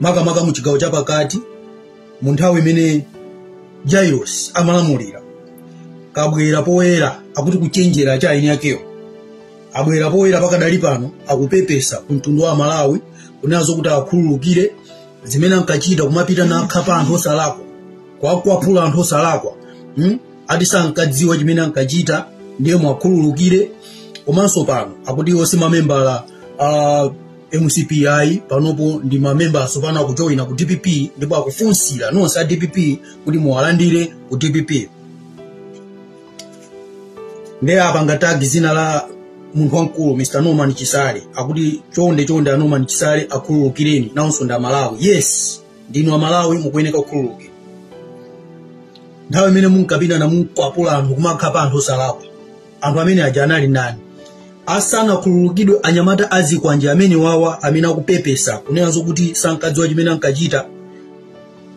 makamaka mu chigawo chapakati mu nthawi imene jairos amalamulira kabwera poyera akuti kuchenjera cha eni akewo abwera poyera pakadali pano akupepesa ku mtundu wa amalawi kunena zokuti akhululukire zimene ankachita kumapita nakhapa anthu osalakwa kuwakwapula anthu osalakwa ati sankadziwa chimene ankachita ndiye muwakhululukire komanso pano akuti iwo si mamembala a mcp ayi panopo ndi mamembala atsopano akujoyina ku dpp ndipo akufunsira nonse a dpp kuti muwalandire ku dpp nde apanga tag zina la munthu wamkulu mr norman chisale akuti chonde chonde a norman chisale akhululukireni nawonso ndi amalawi yes ndinu amalawi mukuyeneka kukhululukidwa nthawi imene munkapita na munkwapula anthu kumakhapa anthu osalakwa anthu amene aja anali ndani asanakhululukidwe anyamata azikwanje amenewawa amene akupepesa kunena zokuti sankadziwa chimene ankachita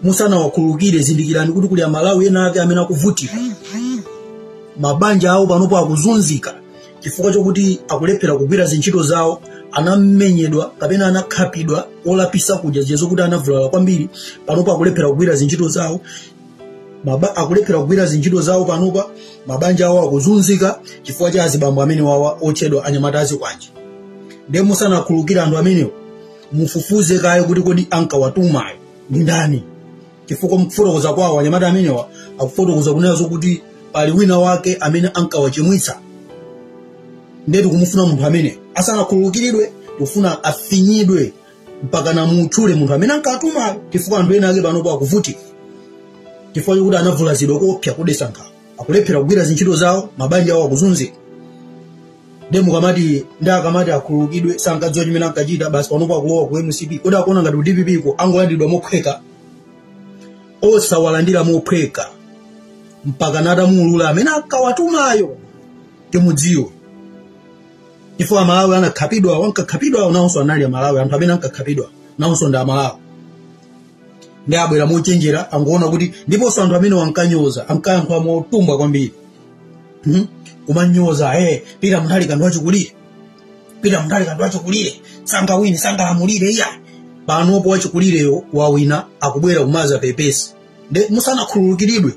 musanawakhululukire zindikirani kuti kuli amalawi ena ake amene akuvutika mabanja awo panopo akuzunzika chifukwa chokuti akulephera kugwira zintchito zawo anamenyedwa kapena anakhapidwa olo pofika kuja zija zokuti anavulala kwambiri panopo akulephera kugwira zintchito zawo akulephera kugwira zintchito zawo panopa mabanja awo akuzunzika chifukwa cha azibambo amenewawa otchedwa anyamata azikwanje ndiye musanakhululukire anthu amenewo mufufuze kaye kuti kodi ankawatumayo ndi ndani chifukwa mkufotokoza kwawo anyamata amenewa akufotokoza kunena zokuti pali wina wake amene ankawachimwitsa ndiye tikumufuna munthu ameneyo asanakhululukiridwe tikufuna afinyidwe mpaka namutchule munthu amene ankawatumayo chifukwa anthu ena ake panopo akuvutika chifukwa chokuti anavulazidwa koopsa kudetsa nkhawa akulephera kugwira zintchito zawo mabanja awo akuzunzika nde mukamati nde akamati akhululukidwe sankadziwa chimene ankachita basi panopo akulowa ku mcp kodi akuona ngati ku dppko angolandidwa mophweka osawalandira mophweka mpaka natamuulula amene ankawatumayo timudziwe chifukwa amalawi anakhapidwawo ankakhapidwawo nawonso anali amalawi anthu amene ankakhapidwa nawonso ndi amalawi ndiye abwera mochenjera angoona kuti ndiponso anthu amenewa ankanyoza ankayankhula motumbwa kwambiri kumanyoza ee peter mutharika ndi wachikulire peter mutharika ndi wachikulire sangawine sangalamulire iya panopo wachikulireyo wawina akubwera kumadzapepesa nde musanakhululukiridwe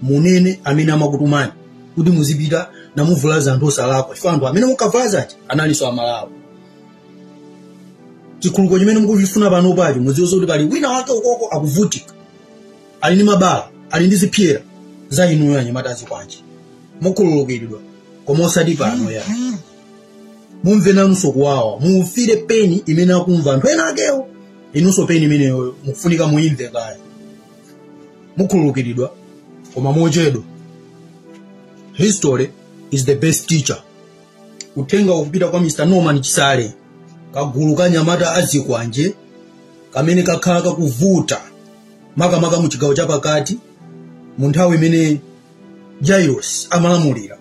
munene amene amakutumani kuti muzipita namuvulaza anthu osalakwa chifukwa anthu amene munkavulaza aja analinso amalawi chikhululuko chimene mukuchifuna panopacho mudziwe zoti pali wina wake ukoko akuvutika ali ndi mabala ali ndi zipsera za inuyo anyamata azikwanje mukhululukiridwa koma osati pano ayi mumve nanunso kuwawa mufile peni imene ankamva anthu ena akewo inunso peni imeneyoyo mukufunika muimve kaya mukhululukiridwa koma mochedwa history is the best teacher uthenga ukupita kwa mr norman chisale kagulu ka nyamata azikwanje kamene kakhala kakuvuta makamaka mu chigawo chapakati mu nthawi imene jairos amalamulira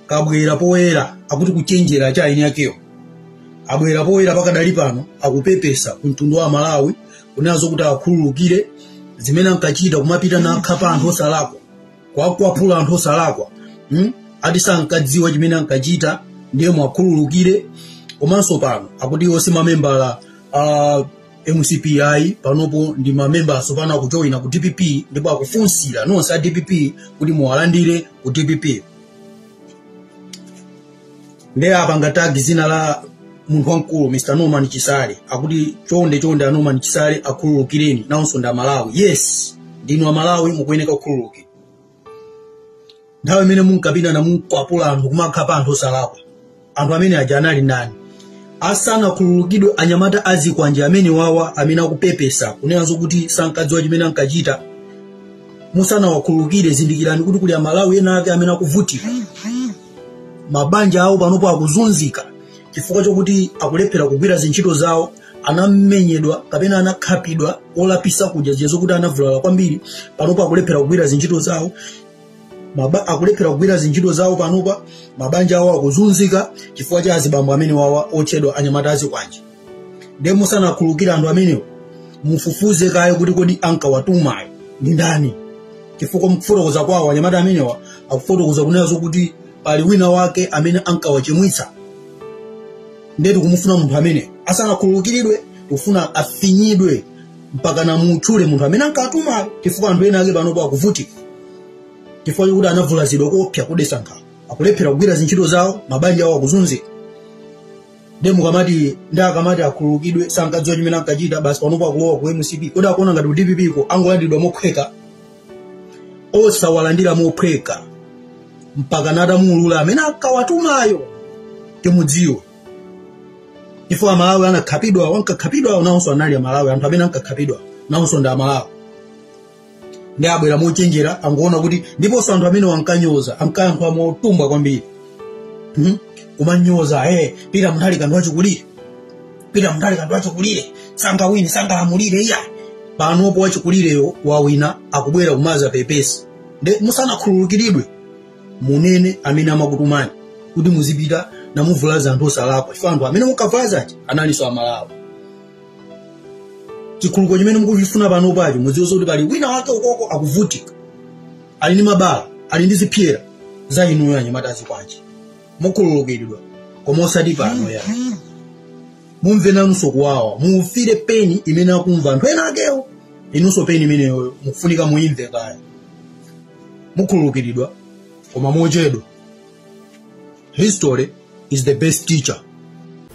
kabwera poyera akuti kuchenjera chani eni akewo abwera poyera pakadali pano akupepesa ku mtundu wa amalawi kunena zokuti akhululukire zimene ankachita kumapita kukakhapa anthu osalakwa kukwapula anthu osalakwa ati sankadziwa chimene ankachita ndiye muwakhululukire komanso pano akuti iwo si mamembala a mcp ayi panopo ndi mamemba asopano akujoyina ku dpp ndipo akufunsira inu nonse a dpp kuti muwalandire ku dpp nde apanga tagi dzina la munthu wamkulu mr norman chisale akuti chonde chonde a norman chisale akhululukireni nawonso ndi amalawi yes ndinu amalawi mukuyeneka kukhululukira nthawi imene munkapita kumakwapula anthu kumakhapa anthu osalakwa anthu amene aja anali nani asanakhululukidwe anyamata azikwanje amenewawa amene akupepesa kunena zokuti sankadziwa chimene ankachita musanawakhululukire zindikirani kuti kuli amalawi ena ake amene akuvutika mabanja awo panopo akuzunzika chifukwa chokuti akulephera kugwira zintchito zawo anamenyedwa kapena anakhapidwa moopsa kuja zija zokuti anavulala kwambiri panopo akulephera kugwira zintchito zawo akulephera kugwira zintchito zawo panopa mabanja awo akuzunzika chifukwa cha azibambo amenewawa otchedwa anyamata azikwanje nde musanakhululukire anthu amenewo mufufuze kaye kuti kodi ankawatumayo ndi ndani chifukwa mkufotokoza kwawo anyamata amenewa akufotokoza kunena zokuti pali wina wake amene ankawachimwitsa ndiye tikumufuna munthu amene asanakhululukiridwe tikufuna afinyidwe mpaka namutchule munthu amene ankawatumayo chifukwa anthu ena ake panopo akuvutika chifukwa chokuti anavulazidwa koopsa kodetsa nkhawa akulephera kugwira zintchito zawo mabanja awo akuzunzika ndiye mukamati nde akamati akhululukidwe sankadziwa chimene ankachita basi panopo akulowa ku mcp kodi akuona ngati ku dpp ko angolandiridwa mophweka osawalandira mophweka mpaka atamuulula amene ankawatumayo timudziwe chifukwa amalawi anakhapidwawo ankakhapidwa nawonso anali amalawi anthu amene ankakhapidwa nawonso ndi amalawi nde abwera mochenjera angoona kuti ndiponso anthu amenewa ankanyoza ankayankhula motumbwa kwambiri kumanyoza eh peter mutharika ndi wachikulire pita mndale kantu achikulire sangawine sangalamulire iya panopo wachikulireyo wawina akubwera kumazapepesa nde musanakhululukiridwe munene amene amakutumani kuti muzipita namuvulaza anthu osalakwa chifukwa anthu amene mukawavulazawo analinso amalawi chikhululuko chimene mukuchifuna panopacho mudziwe kuti pali wina wake ukoko akuvutika ali ndi mabala ali ndi zipsera za inuyo anyamata a zikwanje mukhululukiridwa koma osati pano ya mumve nanunso kuwawa mufile pain imene akumva anthu enaakewo inunso pain imeneyoyo mukufunika muimve kaya mukhululukiridwa koma mochedwa history is the best teacher